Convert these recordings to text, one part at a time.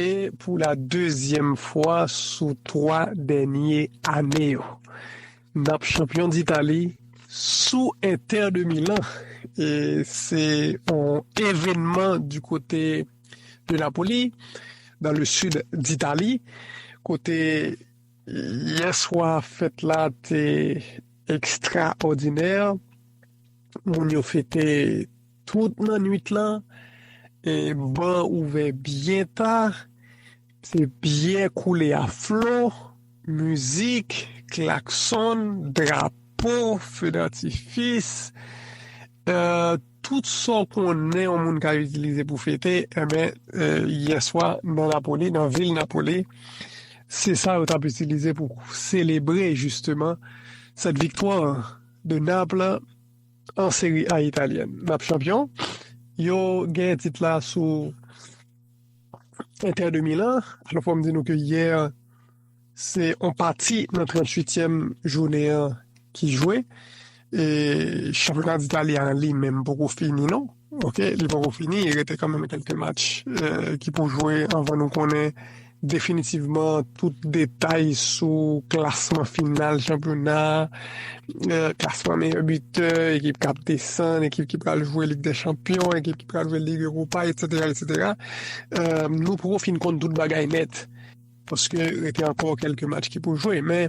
E pou la dezyèm fwa sou 3 dènye ane yo, nap chanpyon d'Itali sou Inter de Milan e se yon evenman di kote de Napoli dan le sid d'Itali kote yè swa fèt la te ekstraòdinè, moun yo fete. Tout nannuit lan, ban ouvè byen ta, se byè koule a flo, mizik, klaksonn, drapo, fe datifis, tout sa w konnen yon moun ka itilize pou fete, enben, yè swa nan Napoli, nan vil Napoli, se sa yo t ap itilize pou selebre jisteman sèt viktwa de Naples. An Serie A Italienne nap chanpyon. Yo genyen tit la sou Inter de Milan. Alò fòm di nou ke yè se on pati nan 38 tièm jounen an ki jwe e chanpyona d'Italie an li menm poko fini non. Ok li poko fini rete kanmenm kelke match ki pou jwe anvan nou konnen definitivman tout detay sou klasman final chanpyona klasman meyè bitè ekip kap desann ekip ki pral jwe lig dè chanpyon ekip ki pral jwe lig ewopa etsetera etsetera nou poko fin konn tout bagay nèt paske rete ankò kelke match ki pou jwe men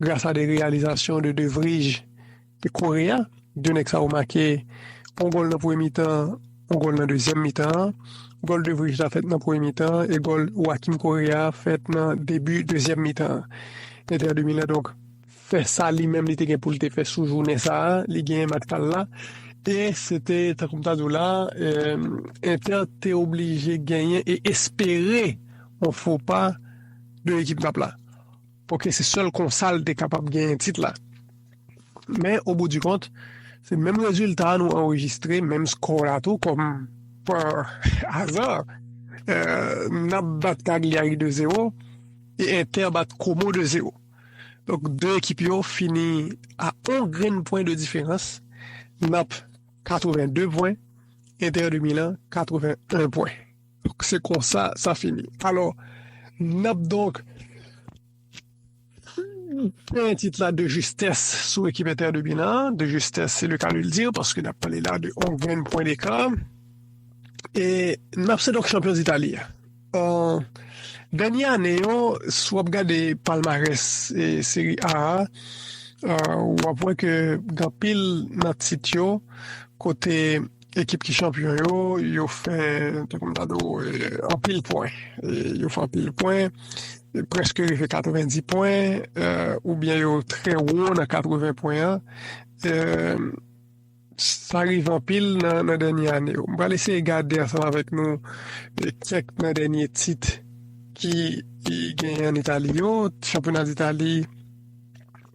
Gras a de reyalizasyon de De Vrij e Korea, de nèg sa yo make yon gòl nan premye mitan, yon gòl nan dezyèm mitan an. Gòl De Vrij la fèt nan premye mitan an e gòl Joakim Korea a fèt nan debi dezyèm mitan an. Inter de Milan donk fè sa li menm li te gen pou l te fè sou jounen sa a, li genyen match pa l la e se te tankou m ta di w la a, Inter te oblije genyen e espere yon fo pa de ekip Nap la. Paske se sèl konsa l te kapab genyen tit la. Men oboudikont, se menm rezilta a nou anrejistre, menm skò la tou kòm pa aza n ap bat Cagliari 2 zewo e Inter bat Como 2 zewo. Donk 2 ekip yo fini a 1 grenn pwen de diferans, Nap 82 pwen, Inter de Milan 81 pwen. Donk se konsa sa fini. Alò, n ap donk genyen tit la de jistès sou ekip Inter de Milan, de jistès se le ka de l dire paske n ap pale la de yon grenn pwen deka. E n ap se donk chanpyon Itali a. Dènye ane yo, si w ap gade palmarès Seri A a, w ap wè ke gen anpil nan tit yo kote. Ekip ki chanpyon yo, yo fè anpil pwen. Yo fè anpil pwen, prèske rive 90 pwen, oubyen yo trè wo nan 80 pwen an. Sa rive anpil nan dènye ane yo. M pral eseye gade ansanm avèk nou kèk nan dènye tit ki genyen an Itali yo. Chanpyona Itali.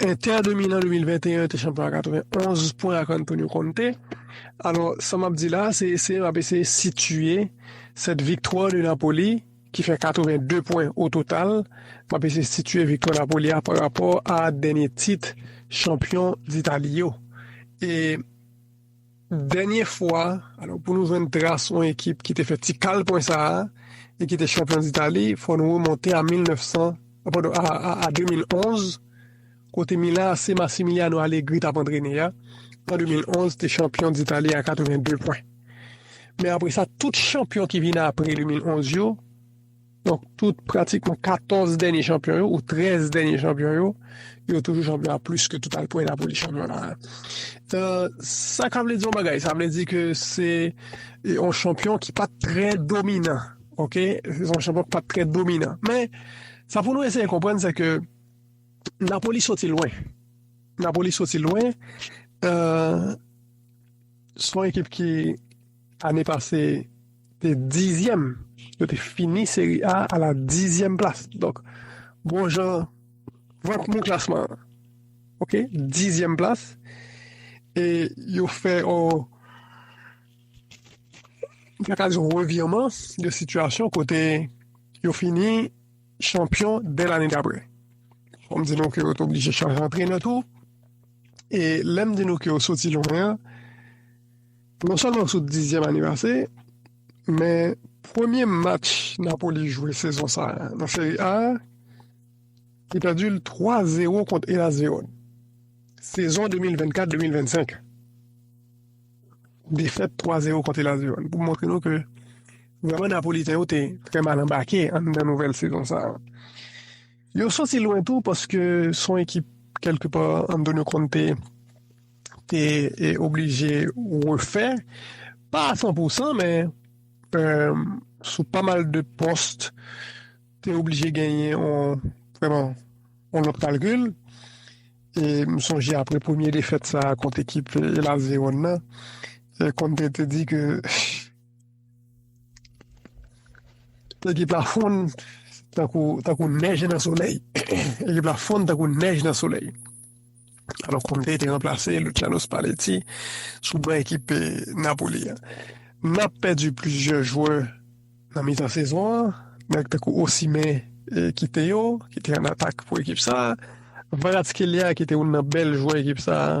Inter de Milan 2021 te chanpyon a 91 pwen ak Antonio Conte. Alò, sa m ap di la, se eseye m ap eseye sitye sèt viktwa de Napoli ki fè 82 pwen o total. M ap eseye sitye viktwa Napoli a pa rapò a dènye tit chanpyon d'Itali yo. E. Dènye fwa, alò pou nou jwenn tras yon ekip ki te fè ti kal pwen sa a e ki te chanpyon d'Itali, fò nou remonte a 1900, a padon, a 2011, kote Milan AC Massimiliano Allegri t ap antrene a, an 2011, te chanpyon d'Itali a 82 pwen. Men apre sa, tout chanpyon ki vin apre 2011 yo, Donk tout pratikman 14 dènye chanpyon yo ou 13 dènye chanpyon yo, yo toujou chanpyon a plis ke total pwen Napoli chanpyon la. Sa ka vle di yon bagay, sa vle di ke se yon chanpyon ki pat trè dominan. Ok, se yon chanpyon ki pat trè dominan. Men, sa pou nou eseye konprann se ke Napoli soti lwen. Napoli soti lwen, se yon ekip ki... Ane pase te dizyèm, yo te fini seri A a la dizyèm plas. Donk, bon jan, vant mou klasman an. Ok, dizyèm plas. E yo fè an Akazyon revirman de sitiyasyon kote yo fini chanpyon de lane dapre. Om di nou ke yo te oblije chanje antrenè tou. E lèm di nou ke yo soti lwen an, Non sèlman sou dizyèm anivase, men premye match Napoli jwe sezon sa nan Serie A, li pèdi l 3 zero kont Hellas Verone. Sezon 2024, 2025, defèt 3 zero kont Hellas Verone pou montre nou ke vreman Napoliten yo te trè mal anbake an nan nouvèl sezon sa. Yo soti lwen tou paske son ekip kelke pa Antonio Conte te oblije refè, pa a san pou san men sou pa mal de post te oblije genyen yon lòt kalkil. E m sonje apre premye defèt sa a kont ekip Hellas Verona, Conte te di ke. Ekip la fonn tankou tankou nèj nan solèy. Ekip la fonn tankou nèj nan solèy. Alò Conte te ranplase Luciano Spalletti sou ban ekip Napoli an. N ap pèdi plizyè jwè nan mitan sezon an, nèg tankou Osimhen e kite yo, ki te an atak pou ekip sa. Kvaratskhelia ki te youn nan bèl jwè ekip sa.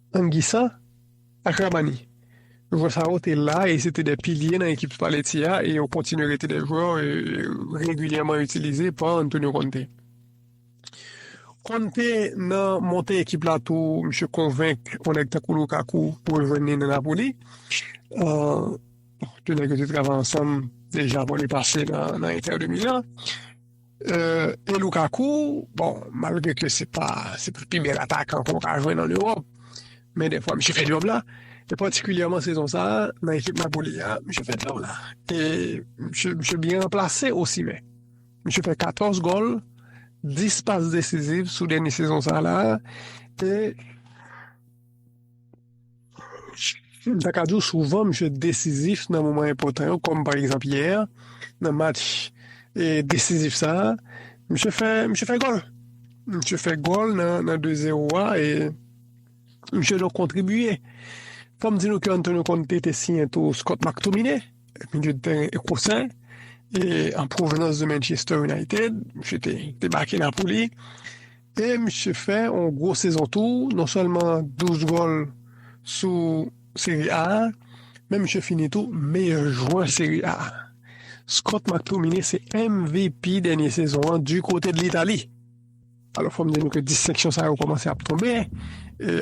Anguissa ak Rrahmani. Jwè sa yo te la e se te 2 pilye nan ekip Spalletti a e yo kontinye rete 2 jwè regilyèman itilize pa Antonio Conte. Conte nan monte ekip la tou misye konvenk yon nèg tankou Lukaku pou rejwenn li nan Napoli. 2 nèg yo te travay ansanm deja avan li pase nan Inter de Milan. E Lukaku, bon, malgre ke se pa pi bèl atakan ke w ka jwenn an Ewòp, men dèfwa misye fè djòb la, e patikilyèman sezon sa a nan ekip Napoli a, misye fè djòb la. E misye byen ranplase Osimhen. Misye fè 14 gòl, 10 pas desiziv sou dènye sezon sa la a, e. M ta ka di w souvan misye desizif nan moman enpòtan yo, kòm pa egzanp yè nan match e desizif sa a, misye fè misye fè gòl. Misye fè gòl nan nan 2 zero a e misye donk kontribye. Fò m di nou ke Antonio Conte te siyen tou Scott McTominay, milye de tèren ekosè e an pwovenans de Manchester United, misye te te make Napoli. E misye fè yon gwo sezon tou, non sèlman 12 gòl sou Serie A a, men misye fini tou meyè jwè Serie A a. Scott McTominay se MVP dènye sezon an di kote de Litali. Alò fò m di nou ke distenksyon sa yo kòmanse ap tonbe.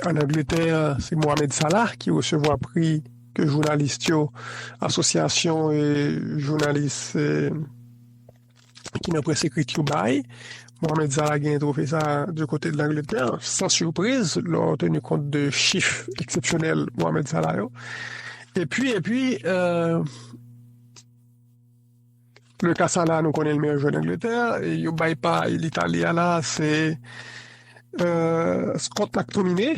An Angletè, se Mohamed Salah ki resevwa pri ke jounalist yo, asosyasyon jounalis. ki nan près ekrit yo bay. Mohamed Salah genyen trofe sa de kote Langletè. San surpriz, lò ou teni kont de chif eksepsyonèl Mohamed Salah yo. E pi, e pi, euh, le ka Salah nou konnen l meyè jwè Langletè, yo bay pa l'Italie a la, se euh, Scott McTominay.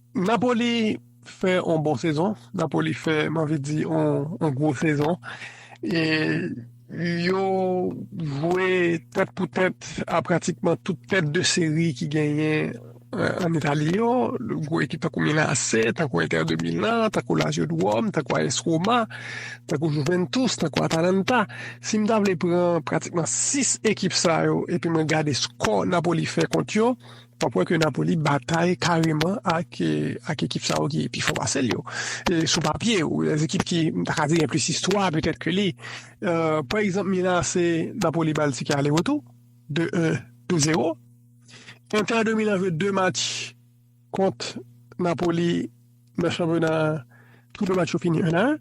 Napoli fè on bon sezon Napoli fè m anvi di on gwo sezon e yo jwe tèt pou tèt a pratikman tout tèt de seri ki genyen an Itali yo, gwo ekip tankou Milan AC, tankou Inter de Milan, tankou Lazio de Rome, tankou AS Roma, tankou Juventus, tankou Atalanta. Si m ta vle pran pratikman 6 ekip sa yo epi mwen gade skò Napoli fè kont yo, Wap wè ke Napoli batay kareman ak ekip sa yo ki pi fò pase l yo. Sou papye, ou wè ekip ki, m ta ka di gen plis istwa petèt ke li. Pa egzanp Milan AC, Napoli ba l tike ale retou, 2 1, 2 0. Inter de Milan jwe 2 match kont Napoli nan chanpyona a, tou 2 match yo fini 1 a 1.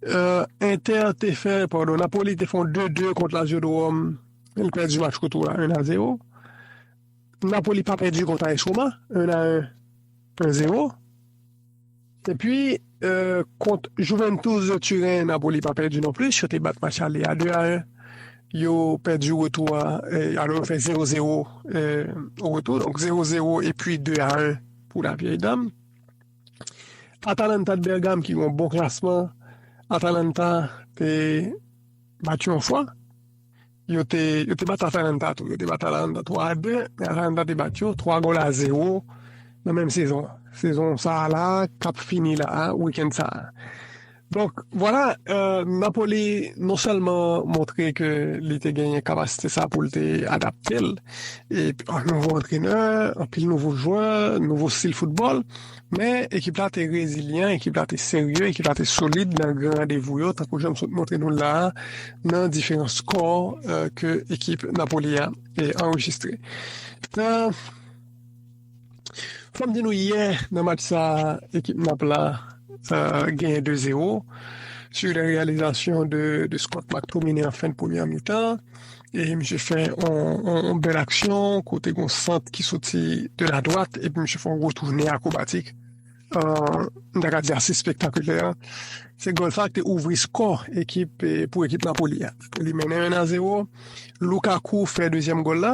Inter te fè, padon, Napoli te fè yon 2-2 kont Lazio de Rome. Li pèdi match retou la 1-0. Napoli pa pèdi kont AS Roma 1-1, 1-0. E pi kont Juventus de Turin, Napoli pa pèdi non plis, yo te bat match ale a 2-1. Yo pèdi retou a, alò yo fè 0-0 retou, donk 0-0 e pi 2-1 pou la Vieille Dame. Atalanta de Bergame ki gen yon bon klasman, Atalanta te bat yo yon fwa, yo te yo te bat Atalanta tou, yo te bat Atalanta 3 a 2, men Atalanta te bat yo 3 gol a 0 nan menm sezon an. Sezon sa a la kap fini la a, weekend sa a. Donk, vwala, Napoli non sèlman montre ke li te genyen kapasite sa pou l te adapte l e ak nouvo antrenè, anpil nouvo jwè, nouvo stil foutbòl, men ekip la te rezilyan, ekip la te serye, ekip la te solid nan gran randevou yo, tankou jan m sot montre nou l la a, nan diferan skò ke ekip Napoli a anrejistre. Fòm di nou yè nan match sa ekip Nap la genyen 2 zero su de reyalizasyon de Scott McTominay an fen premyè mitan e misye fè yon bèl aksyon kote gon sant ki soti de la dwat epi misye fè yon retounen akrobatik m ta ka di ase spektakilè. Se gòl sa ki te ouvri skò ekip pou ekip Napoli a. Li mennen 1 a 0. Lukaku fè dezyèm gòl la.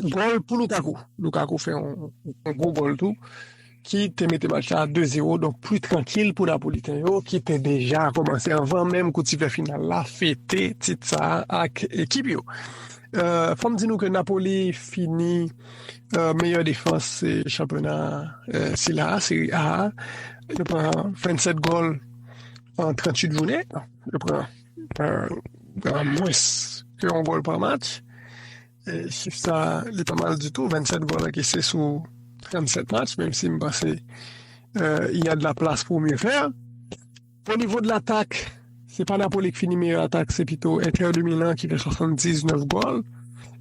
Gòl pou Lukaku, Lukaku fè yon gwo gòl tou ki te mete match la 2 zero donk pli trankil pou Napoliten yo ki te deja kòmanse anvan menm kout siflè final la fete tit sa ak ekip yo. Fò m di nou ke Napoli fini meyè defans chanpyona sila a, Serie A, yo pran 27 gòl an 38 jounen, yo pran mwens ke yon gòl pa match. E chif sa li pa mal ditou 27 gòl ankese sou 37 match menm si m panse y a de la plas pou mye fè. O nivo de latak se pa Napoli ki fini meyè atak se pito Inter de Milan ki fè 79 gòl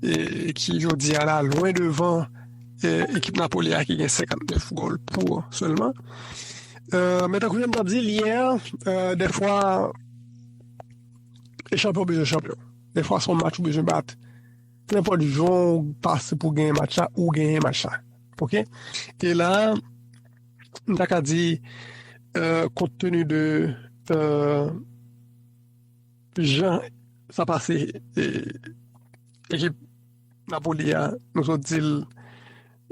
e ki jodi a la lwen devan ekip Napoli a ki gen 59 gòl pou sèlman. Men tankou jan m t ap di l yè, dèfwa e chanpyon bezwen chanpyon. Dè fwa son match ou bezwen bat. Nenpòt jan ou pase pou genyen match la, ou genyen match la. Ok? E la, m ta ka di, kont teni de jan sa pase ekip Napoli a, nou sot di l,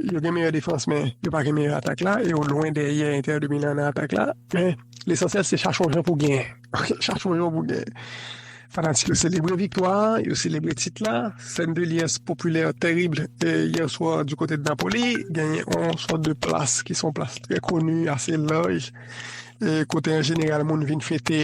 yo gen meyè defans men yo pa gen meyè atak la e yo lwen dèyè Inter de Milan nan atak la. Men, lesansyèl se chache yon jan pou genyen. Chache yon jan pou genyen. Fanatik yo selebre viktwa a, yo selebre tit la. Scène de liesse populaire terrible hier soir du côté de Napoli. Genyen yon sòt de plas ki se yon plas trè koni, ase laj, kote an jeneral moun vin fete.